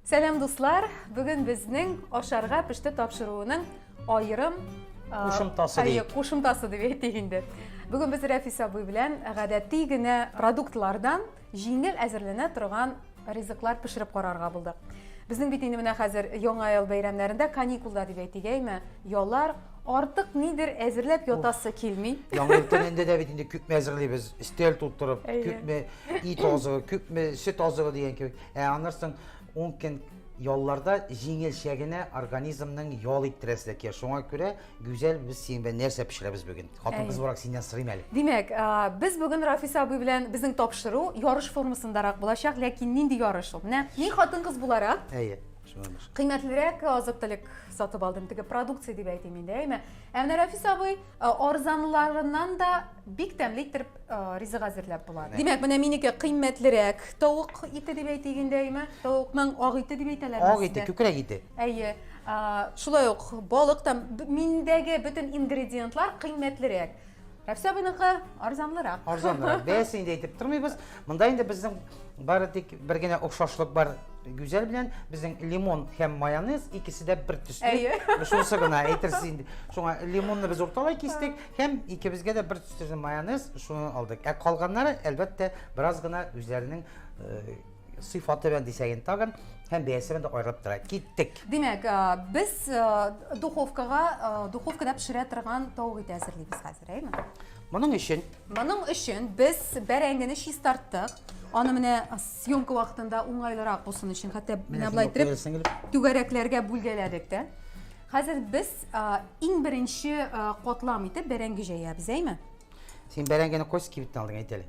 Сәлам дуслар! Бүген безнең ашарга пеште тапшыруының аерым кушымтасы дип. Кушымтасы дип әйтик инде. Бүген без Рәфис абый белән гадәти генә продуктлардан җиңел әзерләнә торган ризыклар пешереп карарга булдык. Безнең бит инде менә хәзер яңа ел бәйрәмнәрендә каникулда дип әйтик, әйме? Яллар Артык нидер әзерләп ятасы килми. Яңа ел көнендә дә бит инде күпме әзерлибез. Стел тутырып, күпме ит азыгы, күпме сөт азыгы дигән кебек. Ә аннарсың 10 көн ялларда җиңелчә генә организмның ял иттерәсе килә. Шуңа күрә Гүзәл без синең белән нәрсә пешерәбез бүген? Хатын-кыз буларак синнән сорыйм әле. Димәк, без бүген Рафис абый белән безнең тапшыру ярыш формасындарак булачак, ләкин нинди ярыш ул? Менә мин хатын-кыз буларак. Әйе. Кыйммәтлерәк азык-төлек сатып алдым, теге продукция дип әйтим инде, әйме. Ә менә Рәфис абый арзанларыннан да бик тәмле итеп ризык әзерләп була. Димәк, менә минеке кыйммәтлерәк тавык ите дип әйтик инде, әйме. Тавыкның ак ите дип әйтәләр. Ак ите, күкрәк ите. Әйе. Шулай ук балык та миндәге бөтен ингредиентлар кыйммәтлерәк. Рәфсә абыйныкы арзанлырак. Арзанлырак. Бәясен инде әйтеп тормыйбыз. Монда инде безнең бары тик бер генә охшашлык бар Гүзәл белән безнең лимон һәм майонез икесе дә бер төсле. Әйе. Шунысы гына әйтерсез инде. Шуңа лимонны без урталай кистек һәм икебезгә дә бер төсле майонез шуны алдык. Ә калганнары, әлбәттә, бераз гына үзләренең э, сыйфаты белән дисәген тагын һәм бәясе белән дә аерылып тора. Киттек. Димәк, без духовкага, духовкада пешерә торган тавык ите әзерлибез хәзер, әйме? Моның өчен? Моның өчен без бәрәңгене чистарттык. Аны менә съемка вакытында уңайлырак булсын өчен, хәтта менә болай итеп түгәрәкләргә бүлгәләдек тә. Хәзер без иң беренче катлам итеп бәрәңге җәябез, әйме? Син бәрәңгене кось кибеттән алдың әйтәле.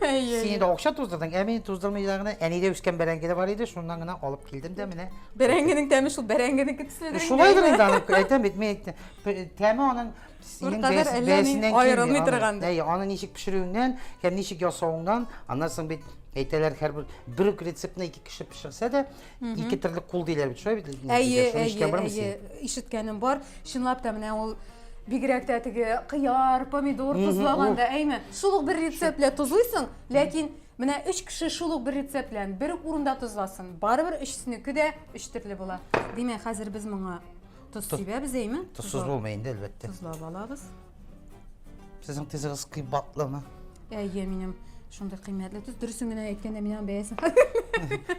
Син инде акча туздырдың, ә мин туздырмый да гына әнидә үскән бәрәңге дә бар иде, шуннан гына алып килдем дә менә. Бәрәңгенең тәме шул бәрәңгенеке төследер. Шулайдыр инде аны әйтәм бит, мин әйттем. Тәме аның синең бәясеннән аерылмый торган. Әй, аны ничек пешерүеңнән, һәм ничек ясавыңнан, аннан соң бит әйтәләр һәрбер бер рецептны ике кеше пешерсә дә, Ике терлек кул диләр бит, шулай бит? Әйе, әйе, әйе, ишеткәнем бар. Чынлап та менә ул бигрәк тә теге кыяр, помидор тозлаганда, әйме? Шул ук бер рецепт белән тозлыйсың, ләкин менә өч кеше шул ук бер рецепт белән бер үк урында тозласын, барыбер өчесенеке дә өч төрле була. Димәк, хәзер без моңа тоз сибәбез, әйме? Тозсыз булмый инде, әлбәттә. Тозлап алабыз. Сезнең тезегез кыйбатлымы? Әйе, минем шундый кыйммәтле төз. Дөресен генә әйткәндә, мин аның бәясен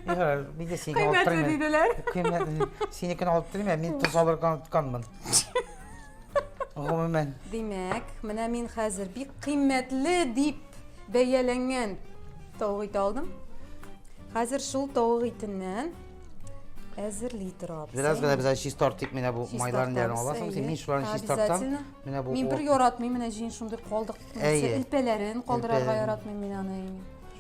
Ярар, мин дә сине алып Кыйммәтле торыйм. диделәр. Кыйммәтле. Синекен алып торыйм, ә мин тоз алырга онытканмын. Гомумән, Димәк, менә мин хәзер бик кыйммәтле дип бәяләнгән тавык ите алдым. Хәзер шул тавык итеннән әзерли торабыз. Бераз гына без чиз тартыйк менә бу майларын белән аласың. Син мин шуларны чиз тартам. Менә бу. Мин бер яратмыйм менә җин шундый калдык. Элпәләрен калдырырга яратмыйм мин аны.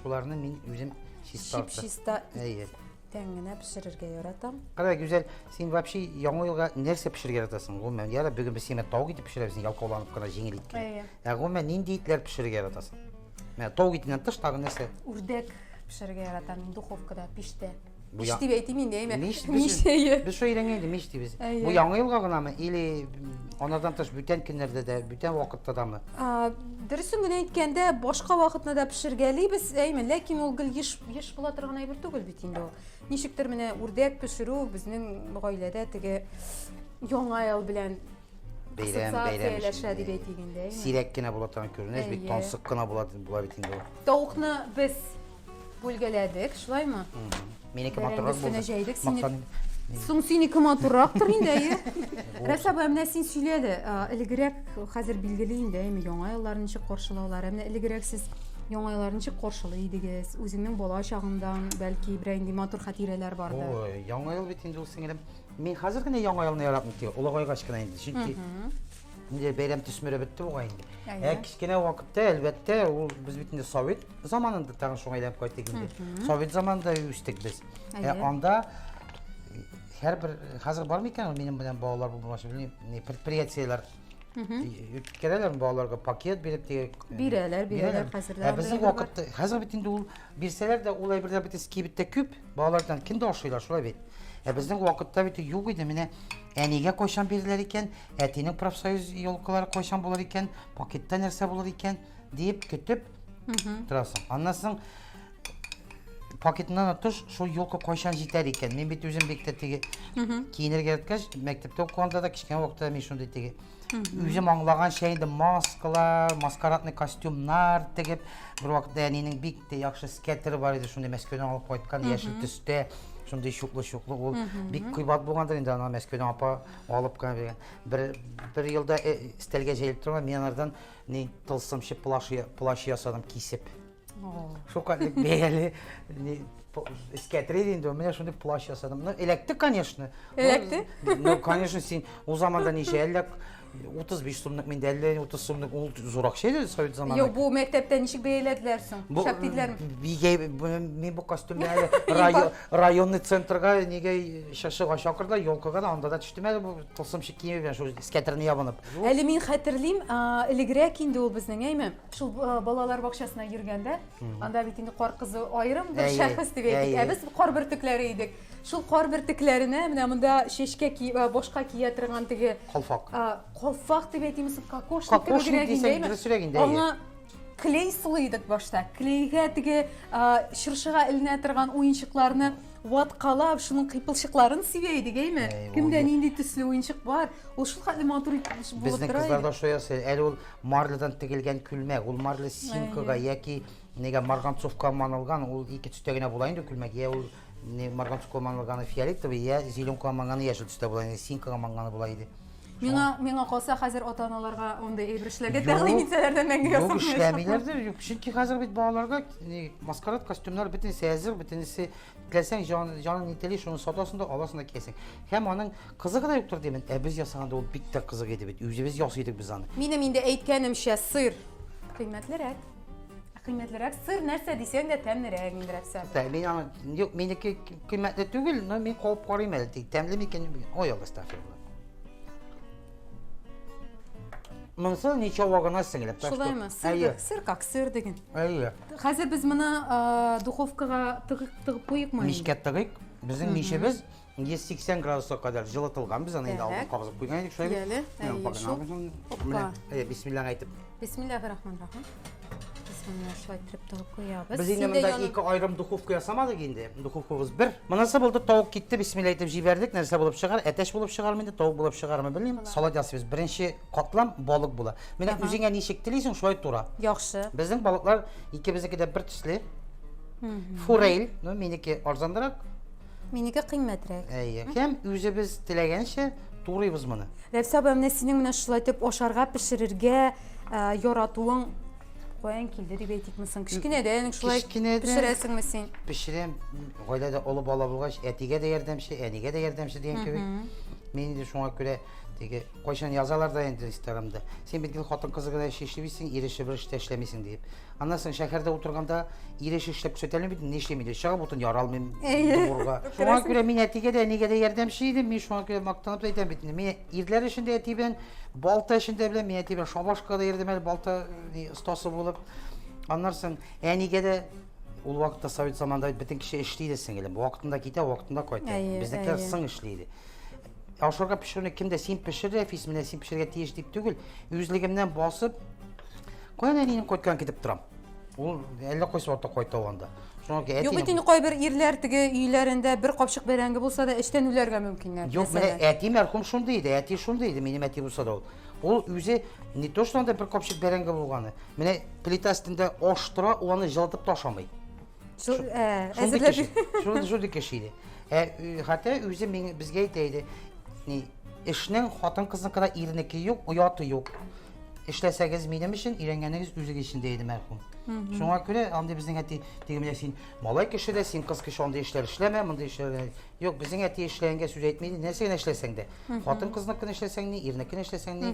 Шуларны мин үзем чиз тартам. Чип чиста. Әйе. Тән генә пешерергә яратам. Кара гүзәл, син вообще яңа елга нәрсә пешерергә яратасың? Гомумән, яра бүген без сиңа тау итеп пешерәбез, ялкауланып кына җиңел иткән. Әйе. Ә гомумән нинди итләр пешерергә яратасың? Менә тау итеннән тыш тагы нәрсә? Үрдәк. Пешерергә яратам мин духовкада, пиштә. Бу Пиш дип әйтим инде, әйме? Миш, миш. Без шул өйрәнгән инде миш дибез. Бу яңа елга гынамы или анардан тыш бүтән көннәрдә дә, бүтән вакытта дамы? Дөресен генә әйткәндә, башка вакытны да пешергәлибез, әйме, ләкин ул гел еш еш була торган әйбер түгел бит инде ул. Ничектер менә үрдәк пешерү безнең гаиләдә теге яңа ел белән Бәйрәм, бәйрәм Ассоциацияләшә дип әйтик инде, әйме? Сирәк кенә була торган күренеш, бит Әйе. тансык кына була, була бит инде ул. Тавыкны без бүлгәләдек, шулаймы? Минеке Бәрәңге матуррак өстенә булды. җәйдек, сине- Мактан- Соң синеке матуррактыр инде, әйе. Рәс апа, ә менә син сөйлә әле, а, элегрәк хәзер билгели инде, әйме, яңа елларны ничек каршылаулар? Ә менә элегрәк сез яңа елларны ничек каршылый идегез? Үзеңнең бала чагыңдан, бәлки, берәр инде матур хатирәләр бардыр? Ой, яңа ел бит инде ул, сеңелем. Мин хәзер генә яңа елны яратмыйм тик олыгайгач кына инде, чөнки инде бәйрәм төсмере бетте бугай инде. Ә кечкенә вакытта, әлбәттә, ул без бит инде совет заманында тагын шуңа әйләнеп кайттык инде. Совет заманында үстек без. Ә анда һәрбер хәзер бар микән ул минем белән балалар булмашы белмим, не предприятиеләр үткәрәләр балаларга пакет биреп тигән. Бирәләр, бирәләр хәзер. Ә безнең вакытта хәзер бит инде ул Бирсәләр дә, ул әйберләр бит эз кибеттә күп. Балалардан кем дә ашыйлар, шулай бит. Ә безнең вакытта бит юк иде. Менә әнигә кайчан бирелер икән, әтинең профсоюз елкалары кайчан булыр икән, пакетта нәрсә булыр икән, диеп көтеп торасың. Аннан соң пакетыннан тыш шул елка кайчан җитәр икән. Мин бит үзем бик тә теге киенергә яраткач, мәктәптә укыганда да кечкенә вакытта мин шундый теге Үзем аңлаганча инде маскалар, маскарадный костюмнар тегеп, бер вакытта әнинең бик тә яхшы скетеры бар иде, шундый Мәскәүдән алып кайткан яшел төстә, шундый чуклы-чуклы ул. Бик кыйбат булгандыр инде аны Мәскәүдән апа алып кына биргән. Бер бер елда э, стәлгә җәелеп торган, мин анардан ни тылсымчы плащ плащ ясадым кисеп. Шукатлык бәяле эскәтре инде ул менә шундый плащ ясадым ну эләкте конечно эләкте ну конечно син ул заманда ничә әллә утыз биш сумлык менде әллә утыз сумлык ул зур акча иде совет заманында юк бу мәктәптә ничек бәяләделәр соң шәп диделәрме бигә мин бу костюмны әле районный центрга нигә чыршыга чакырдылар елкага да анда да төштем әле бу тылсымчы киеме белән шул эскәтерне ябынып әле мин хәтерлим элегрәк инде ул безнең әйме Шул э, балалар бакчасына йөргәндә, анда бит инде кар кызы аерым бер Әйе, шәхес дип әйтик. әйе. Ә без кар бөртекләре идек. Шул кар бөртекләренә менә монда чәчкә ки- э, башка кия торган теге Калфак. э, калфак дип әйтимме соң, кокошник Кокошник кебегрәк дисәң индеме? дөресрәк инде, әйе. Аңа клей сылый идек башта. Клейгә теге э, чыршыга эленә торган уенчыкларны ваткалап, шуның кыйпылчыкларын сибә идек, әйме? Әй, ул Кемдә ю- нинди төсле уенчык бар? Ул шулкадәр матур итеп булып Безнең тора кызлар иде. да шулай ясый. Әле ул Марлядан тегелгән күлмәк, ул марля синкога яки нигә марганцовка манылган, ул ике төстә генә була инде күлмәк, я ул марганцовка манылганы фиолетовый, я зеленка манганы яшел төстә була инде, синкога манганы була иде. Миңа миңа калса хәзер ата-аналарга андый әйбер эшләргә тәкъдим итсәләр дә мәңге ясамыйлар. Юк, эшләмиләрдер, юк, чөнки хәзер бит балаларга маскарад костюмнар бөтенесе әзер, бөтенесе Теләсәң, җан, җаның ни тели, шуны сатасың да, аласың да киясең. Һәм аның кызыгы да юктыр димен. Ә без ясаганда ул бик тә кызык иде бит. Үзебез ясый идек без аны. Минем инде әйткәнемчә, сыр кыйммәтлерәк. Ә Кыйммәтлерәк сыр нәрсә дисәң дә тәмлерәк инде рәпсә. Тә, мин аны, юк, минеке кыйммәтле түгел, но мин куып карыйм әле. Тик тәмле микән? Ой, Алла астагфирулла. Монсы ничавагына сеңелеп. так что- Шулаймы? Сыр, Әйе, да- сыр как сыр диген. әйе. Хәзер без моны духовкага тыгып куйыйк ма? Мичкә тыгыйк. Безнең мичебез 180 градуска кадәр җылытылган. Без аны инде алдан кабызып куйган идек шулай. Яле, Менә, әйе, бисмилла әйтеп. Бисмиллахи рахман рахим. Бисмилла шулай итеп тыгып куябыз. Без инде монда ике аерым духовка ясамадык инде. Духовкабыз бер. Монысы булды, тавык китте, бисмилла әйтеп җибәрдек. Нәрсә булып чыгар? Әтәч булып чыгармы инде, тавык булып чыгармы, белмим. Салат ясыйбыз. Беренче Катлам балык була. Менә Ага. үзеңә ничек телисең, шулай тура. Яхшы. Безнең балыклар икебезнеке дә бер төсле. Форель, ну минеке арзанрак. Минеке кыйммәтрәк. Әйе. Һәм үзебез теләгәнчә турыйбыз моны. Рәфсә апа, менә синең менә шулай итеп ашарга, пешерергә ә, яратуың каян килде дип әйтикме соң? Кечкенәдән үк шулай Кечкенәдән- пешерәсеңме син? Пешерәм. М, Гаиләдә олы бала булгач, әтигә дә ярдәмче, әнигә дә ярдәмче дигән кебек. Мин инде шуңа күрә теге Кайчан язалар да инде инстаграмда, син бит гел хатын-кызы гына эш эшли бит син, ир эше бер эш тә эшләмисең диеп. Аннан соң шәһәрдә утырганда ир эше эшләп күрсәтә алмыйм бит, нишлим инде, чыгып утын яра алмыйм Әйе. дугурга. Шуңа күрә мин әтигә дә, әнигә дә ярдәмче идем, мин шуңа күрә мактанып та әйтәм бит инде. Мин ирләр эшен дә әти белән, балта эшен дә беләм, мин әти белән шабашкага да йөрдем әле, балта ни, остасы булып. Аннан соң әнигә дә ул вакытта совет заманында бит бөтен кеше эшли иде, сеңелем, вакытында китә, вакытында кайта. Әйе, Безнекеләр әйе. соң эшли иде. Ашарга пешерүне кем дә син пешер, Рәфис, менә син пешерергә тиеш дип түгел, үзлегемнән басып, каян әнием кайткан китеп торам. Ул әллә кайсы вакытта кайта ул анда. Шуңа күрә Юк әтине- бит инде кайбер ирләр теге өйләрендә бер капчык бәрәңге булса да эчтән үләргә мөмкиннәр. Юк, менә мәсәлән. әти мәрхүм шундый иде, әти шундый иде, минем әти булса да ул. Ул үзе не то что анда бер капчык бәрәңге булганы. Менә плита өстендә аш тора, ул аны җылытып та ашамый. Шул, ә, Шундый әзерләп- кеше. Шундый шундый кеше иде. Ә ө, хәтта үзе миңа безгә әйтә иде. Ни, эшнең хатын-кызныкы да ирнеке юк, ояты юк. Эшләсәгез минем өчен, өйрәнгәнегез үзегез өчен дә иде мәрхүм. Шуңа күрә андый безнең әти теге менә син малай кеше дә, син кыз кеше андый эшләр эшләмә, мондый эшләр Юк, безнең әти эшләгәнгә сүз әйтми иде. Нәрсә генә эшләсәң дә. Хатын кызыныкын эшләсәң ни, ирнекен эшләсәң ни.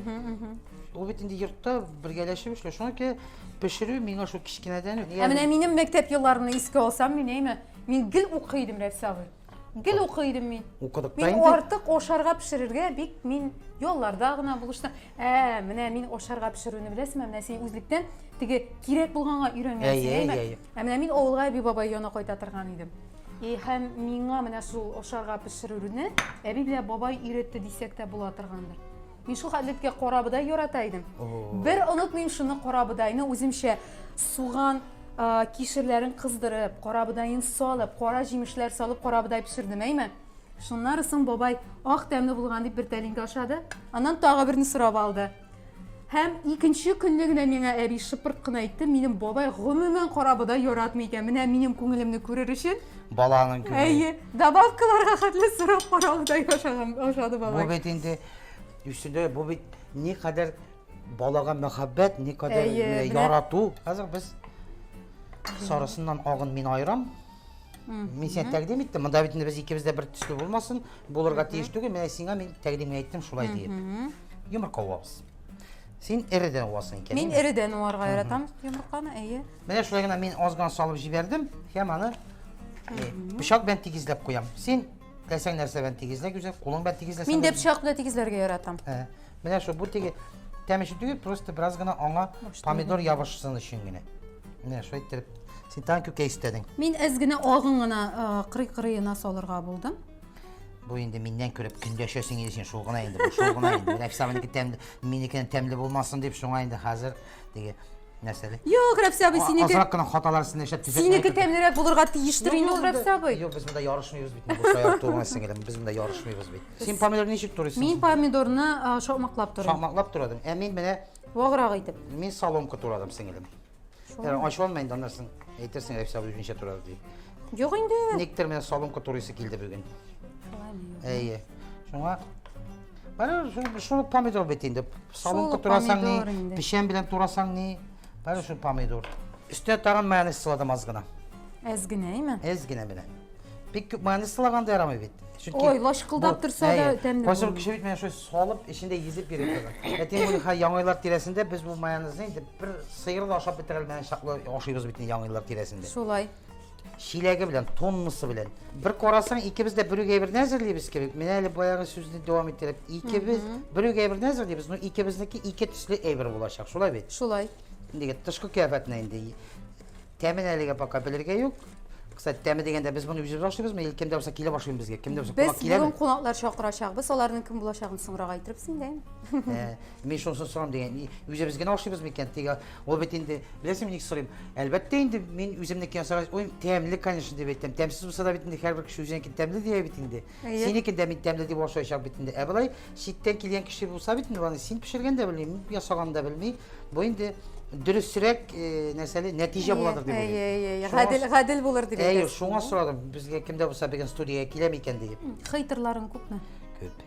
Ул бит инде йортта бергәләшеп эшләү. Шуңа күрә пешерү миңа шул кечкенәдән үк. Ә менә минем мәктәп елларымны искә алсам, мин әйме, мин гел укый идем, Рәфис абый. Гел укый идем мин. Укыдык та инде. Мин артык ашарга пешерергә бик мин ялларда гына булыштым. Ә, менә мин ашарга пешерүне беләсеңме? Менә син үзлектән теге кирәк булганга өйрәнгәнсең, әйме? Ә менә мин авылга әби-бабай янына кайта торган идем. И һәм миңа менә шул ашарга пешерүне әби белән бабай өйрәтте дисәк тә була торгандыр. Мин шул хәтлеткә карабыдай ярата идем. Бер онытмыйм шуны карабыдайны үземчә суган кишерләрен кыздырып, карабыдаен салып, кара җимешләр салып карабыдай пешердем, әйме? Шуннары соң бабай ак тәмле булган дип бер тәлинкә ашады, аннан тагы берне сорап алды. Һәм икенче көнне генә миңа әби шыпырт кына әйтте, минем бабай гомумән карабы да яратмый икән. Менә минем күңелемне күрер өчен. Баланың күңеле. Әйе, добавкаларга хәтле сорап каравы да ошады бабай. Бу бит инде үсүдә бу бит ни кадәр балага мәхәббәт, ни кадәр ярату. Хәзер без сарысыннан агын мин аерам. Мин сиңа тәкъдим иттем. Монда бит без икебез дә бер төсле булмасын, булырга тиеш түгел. Менә сиңа мин тәкъдим әйттем шулай диеп. Йомырка уабыз. Син эредән уасың икән. Мин эредән уарга яратам йомырканы, әйе. Менә шулай гына мин азган салып җибәрдем һәм аны пычак белән тигезләп куям. Син теләсәң нәрсә белән тигезлә гүзәл, кулың белән тигезләсәң. Мин дә пычак белән тигезләргә яратам. Менә шул бу теге тәмәче түгел, просто бераз гына аңа помидор ябышсын өчен генә. Менә шулай иттереп. Син тагын күкәй истәдең. Мин әз генә агын гына кырый-кырыена салырга булдым. Бу инде миннән күреп көндәшәсең иде син, шул гына инде, бу шул гына инде. Рәфса минеке тәмле, минекеннән тәмле булмасын дип, шуңа инде хәзер диге нәрсәле. Юк, Рәфса абый, синеке. Азрак кына хаталар син эшләп төзәтә. Синеке тәмлерәк булырга тиештер инде ул Рәфса абый. Юк, без монда ярышмыйбыз бит. Бу шаяр туган сеңелем, без монда ярышмыйбыз бит. Син помидорны ничек турыйсың? Мин помидорны шакмаклап торам. Шакмаклап торадың. Ә мин менә Ваграк итеп. Мин соломка турадым, сеңелем. Шулай. Ачуланма инде, аннан соң әйтерсең, Рәфис абый үзенчә турады дип. Юк инде. Никтер менә соломка турыйсы килде бүген. Әйе. Шуңа Бары шул помидор бит инде. Соломка турасаң ни, печән белән турасаң ни, бары шул помидор. Өстә тагын майонез сыладым аз гына. Әз генә, әйме? Әз генә белән. Бик күп майонез сылаганда ярамый бит. Чөнки Ой, лашкылдап торса да тәмле. Кайсы кеше бит менә шулай салып, эчендә езеп йөри торган. Әти бу ха яңайлар тирәсендә без бу майонезны инде бер сыер да ашап бетерә алмаган чаклы ашыйбыз бит яңайлар тирәсендә. Шулай. Чиләге белән, тоннасы белән. Бер карасаң, икебез дә бер үгәй берне әзерлибез кебек. Менә әле баягы сүзне дәвам иттереп, икебез бер үгәй берне әзерлибез, но икебезнеке ике төсле әйбер булачак. Шулай бит? Шулай. Инде тышкы кыяфәтенә инде Тәмен әлегә пока белергә юк. Кстати, тәме дигәндә без моны үзебез ашыйбызмы, или кемдә булса килеп ашыймы безгә? Кемдә булса кунак киләме? Без бүген кунаклар чакырачакбыз, аларның кем булачагын соңрак әйтербез инде. Ә, мин шунысын сорам дигән, үзебез генә ашыйбызмы икән? Теге ул бит инде, беләсеңме ник сорыйм? Әлбәттә инде мин үземнеке ясагач, ой, тәмле, конечно, дип әйтәм. Тәмсез булса да бит инде һәрбер кеше үзенекен тәмле дия бит инде. Әйе. Синекен дә мин тәмле дип ашаячак бит инде. Ә болай читтән килгән кеше булса бит инде аны син пешергән дә белми, ясаган да белми. Бу инде дөресрәк э, нәрсәле нәтиҗә буладыр дип Әйе, әйе, әйе. Шуңа- Гадел, гадел булыр дип Әйе, әйтәсез. шуңа сорадым, безгә кемдә булса беган студиягә килә микән диеп. Хейтерларың күпме? Күп.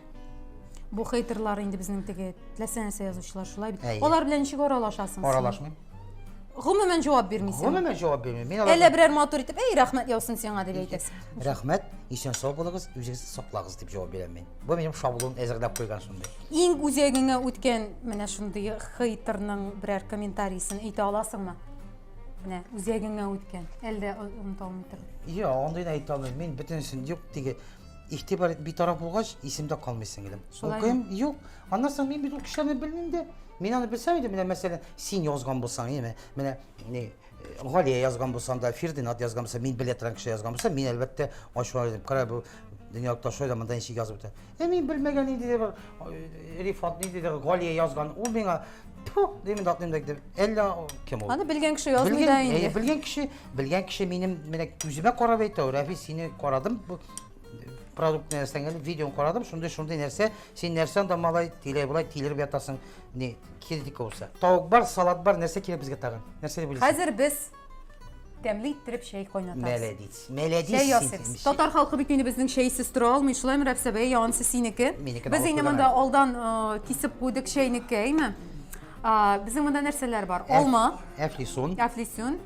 Бу хейтерлар инде безнең теге теләсә нәрсә язучылар шулай бит. Әйе. Алар белән ничек аралашасың? син? Аралашмыйм. гомумән җавап бирмисең гомумән җавап бирмим мин әллә берәр матур итеп әй рәхмәт яусын сиңа дип әйтәсең рәхмәт исән сау булыгыз үзегезне саклағыз дип җавап бирәм мин бу минем шаблон әзерләп куйган шундый иң үзәгеңә үткән менә шундый хейттерның берәр комментарийсын әйтә аласыңмы менә үзәгеңә үткән әлдә оныта алмый торып юк андыйны әйтә алмыйм мин бөтенесен юк теге игътибар битараф булгач исемдә калмый сеңелем укыйм юк Аннан соң мин бит ул кешеләрне белмим дә. Мин аны белсәм иде, менә мәсәлән, син язган булсаң, яме, менә не Галия язган булсаң да, Фирдинат язган булса, мин белә торган кеше язган булса, мин әлбәттә ачуланыр идем. Кара бу дөнья ташлай да монда ничек язып утыра. Ә мин белмәгән инде дә бер Рифат ни диде, Галия язган. Ул миңа Тьфу, димин да атмыйм да дип. Әллә кем ул? Аны белгән кеше язмый да инде. Белгән кеше, белгән кеше минем менә күземә карап әйтә, Рәфи, сине карадым, продукт нәрсәңне, видеоны карадым, шундый шундый нәрсә Син нәрсә анда малай, тиләй-болай тилереп ятасың, не, кирдик булса. Тавык бар, салат бар, нәрсә кирәк безгә тагын? Нәрсә дип уйлыйсың? Хәзер без тәмле иттереп чәй кайнатабыз. Мәләдис, мәләдис. Чәй ясыйбыз. Татар халкы бит инде безнең чәйсез тора алмый, шулаймы, Рәфсә бәй, янсы синеке. Без инде монда алдан кисеп куйдык чәйнеке, әйме? Безнең монда нәрсәләр бар? Алма. Әфлисун. Әфлисун.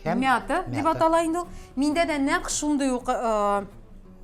Мята дип атала инде ул. Миндә дә нәкъ шундый ук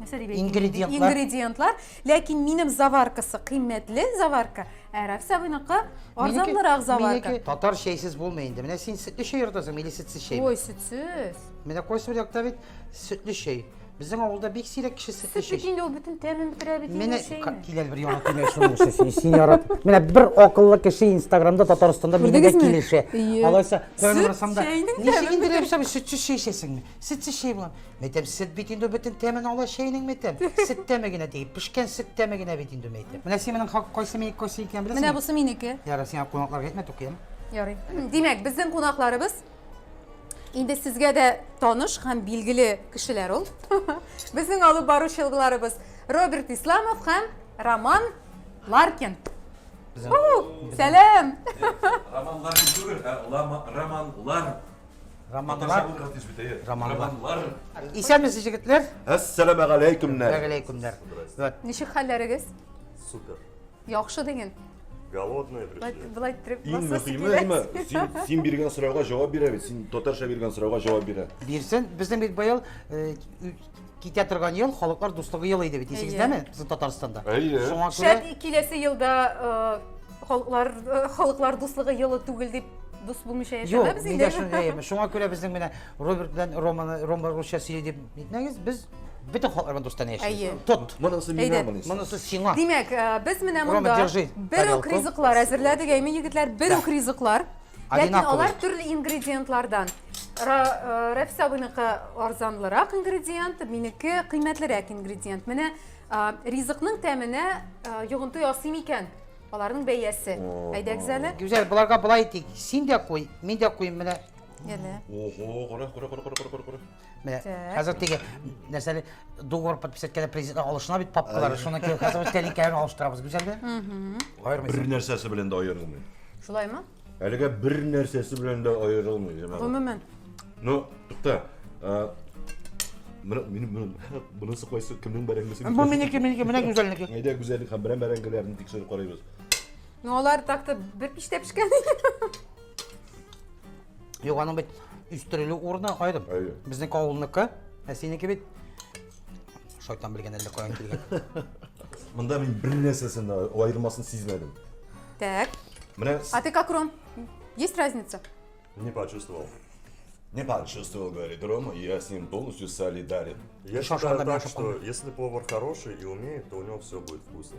ингредиентлар. ингредиентлар. Ләкин минем заваркасы кыйммәтле заварка, ә Рафис абыйныкы арзанлырак заварка. Татар чәйсез булмый инде. Менә син сөтле чәй яратасың, или сөтсез чәй? Ой, сөтсез. Менә кайсы бер якта бит сөтле чәй. Безнең авылда бик сирәк кеше сөтле чәй. Сөт инде ул бөтен тәмен бетерә бит инде чәйне. Менә киләл бер яңа киләл шуның өчен син ярат. Менә бер акыллы кеше Инстаграмда Татарстанда минегә килешә. Алайса, тәмен рәсәмдә. Ничек инде рәсәм сөтсез чәй эчәсеңме? Сөтсіз шәй була. Мәйтәм, сөт бит инде бөтен тәмен ала шәйнең мәйтәм. Сөт тәме генә ди, пешкән сөт тәме генә бит инде мәйтәм. Менә син минең кайсы мейк кайсы икән беләсеңме? Менә бусы минеке. Ярар, сиңа кунакларга әйтмә, тукыям. Ярый. Димәк, безнең кунакларыбыз инде сезгә дә таныш һәм билгеле кешеләр ул. Безнең алып баручы елгыларыбыз Роберт Исламов һәм Роман Ларкин. Сәлам! Роман Ларкин түгел, ә Роман Лар Романлар. Романлар. Исәнмесез, егетләр. Әссәламә галәйкүмнәр. Галәйкүмнәр. Вот. Ничек хәлләрегез? Супер. Яхшы диген. Голодные пришли. Былай иттереп Иң мөһиме, син, син биргән сорауга җавап бирә бит. Син татарча биргән сорауга җавап бирә. Бирсен, безнең бит быел э, Китә торган ел халыклар дуслыгы елы иде бит, исегездәме? Безнең Татарстанда. Әйе. Шуңа күрә Шәт киләсе елда халыклар халыклар дуслыгы елы түгел дип дус булмыйча яшәмәбез инде. Юк, нигә шуны Шуңа күрә безнең менә Роберт белән Романы, Рома русча сөйли дип әйтмәгез, без бөтен халыклар белән дустан яшибез. Тот. Монысы миңа, монысы. Монысы сиңа. Димәк, без менә монда бер үк ризыклар әзерләдек, әйме егетләр, бер үк ризыклар. Ләкин алар төрле ингредиентлардан. Рәфис абыйныкы арзанлырак ингредиент, минеке кыйммәтлерәк ингредиент. Менә ризыкның тәменә йогынты ясыйм икән, аларның бәясе. Әйдәгез әле. Гүзәл, боларга былай итик. Син дә куй, мин дә куйм менә. Ого, кара, кара, кара, кара, кара, кара. Менә Так. хәзер теге нәрсәле договор подписать иткәндә президент алышына бит папкалары, шуны ки- хәзер без тәлинкәләрен алыштырабыз гүзәлгә. Аермыйсың. Бер нәрсәсе белән дә аерылмый. Шулаймы? Әлегә бер нәрсәсе белән дә аерылмый. Җәмәгать. Гомумән. Ну, тукта. а, Менә минем менә- монысы кайсы кемнең бәрәңгесе? Бу минеке, минеке, менә гүзәлнеке. Әйдә гүзәллек һәм бәрән бәрәңгеләрне тикшереп карыйбыз. Ну, алар так-то бер пиштә пешкән. Юк, аның бит үстерелү урыны аерым. Әйе. Безнең авылныкы, ә синеке бит шайтан белгән әллә каян килгән. Монда мин бер нәрсәсен аермасын сизмәдем. Так. Менә А ты как, Ром? Есть разница? Не почувствовал. Не почувствовал, говорит Рома, и я с ним полностью солидарен. Я считаю так, что если повар хороший и умеет, то у него все будет вкусно.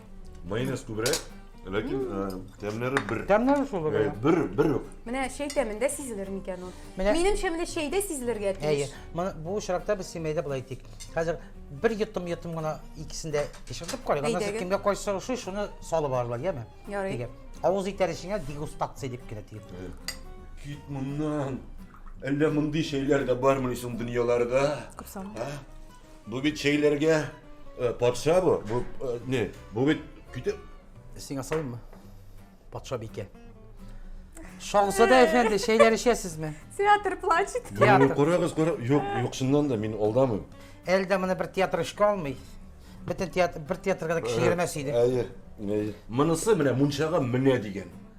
Майонез күбрәк, ләкин э, тәмнәре бер. Тәмнәре шул Э, гына. Бер, бер үк. Менә чәй тәмендә сизелер микән ул? Менә- Минемчә, менә чәйдә сизелергә Әйе. тиеш. Моны- Бу очракта без семьяда болай итик. Хәзер бер йотым йотым гына икесен дә пешердек карыйк. Аннан соң Әйдәгез. кемгә кайсы ошый, шуны салып алырлар, яме? Ярый. Дигән. Авыз итәр эчеңә дегустация дип кенә тиеп. Кит моннан. Әллә мондый чәйләр дә бармыни соң дөньяларда? Күп сан. А? Бу бит чәйләргә э, патша бу. Бу э, не? Бу бит көтеп. Сиңа салыйммы? Патша бике. Шагызада әфәнде, чәйләр эчәсезме? Театр плачет. Театр. Карагыз, карагыз. Юк, юк, чыннан да мин алдамыйм. Әлдә моны бер театр эшкә алмый. Бөтен театр бер театрга да кеше йөрмәс иде. Әйе, әйе. Монысы менә мунчага менә дигән.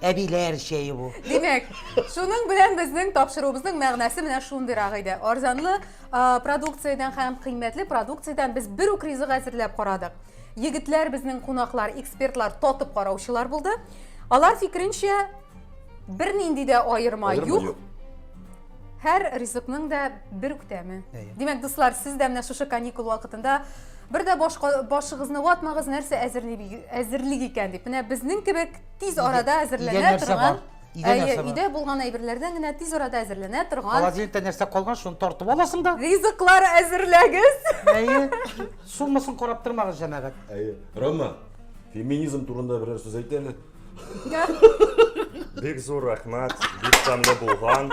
әбиләр чәе бу. Димәк, шуның белән безнең тапшыруыбызның мәгънәсе менә шундыйрак иде. Арзанлы продукциядән һәм кыйммәтле продукциядән без бер үк ризык әзерләп карадык. Егетләр безнең кунаклар, экспертлар, татып караучылар булды. Алар фикеренчә, бернинди дә аерма юк. Һәр ризыкның да бер үк тәме. Димәк, дуслар, сез дә менә шушы каникул вакытында бер дә башыгызны ватмагыз, нәрсә әзерлик икән дип. Менә безнең кебек тиз арада әзерләнә торган өйдә булган әйберләрдән генә тиз арада әзерләнә торган холодильникта нәрсә калган шуны тартып аласың да ризыклар әзерләгез әйе суммасын карап тормагыз җәмәгать әйе рома феминизм турында берәр сүз әйт әле бик зур рәхмәт бик тәмле булган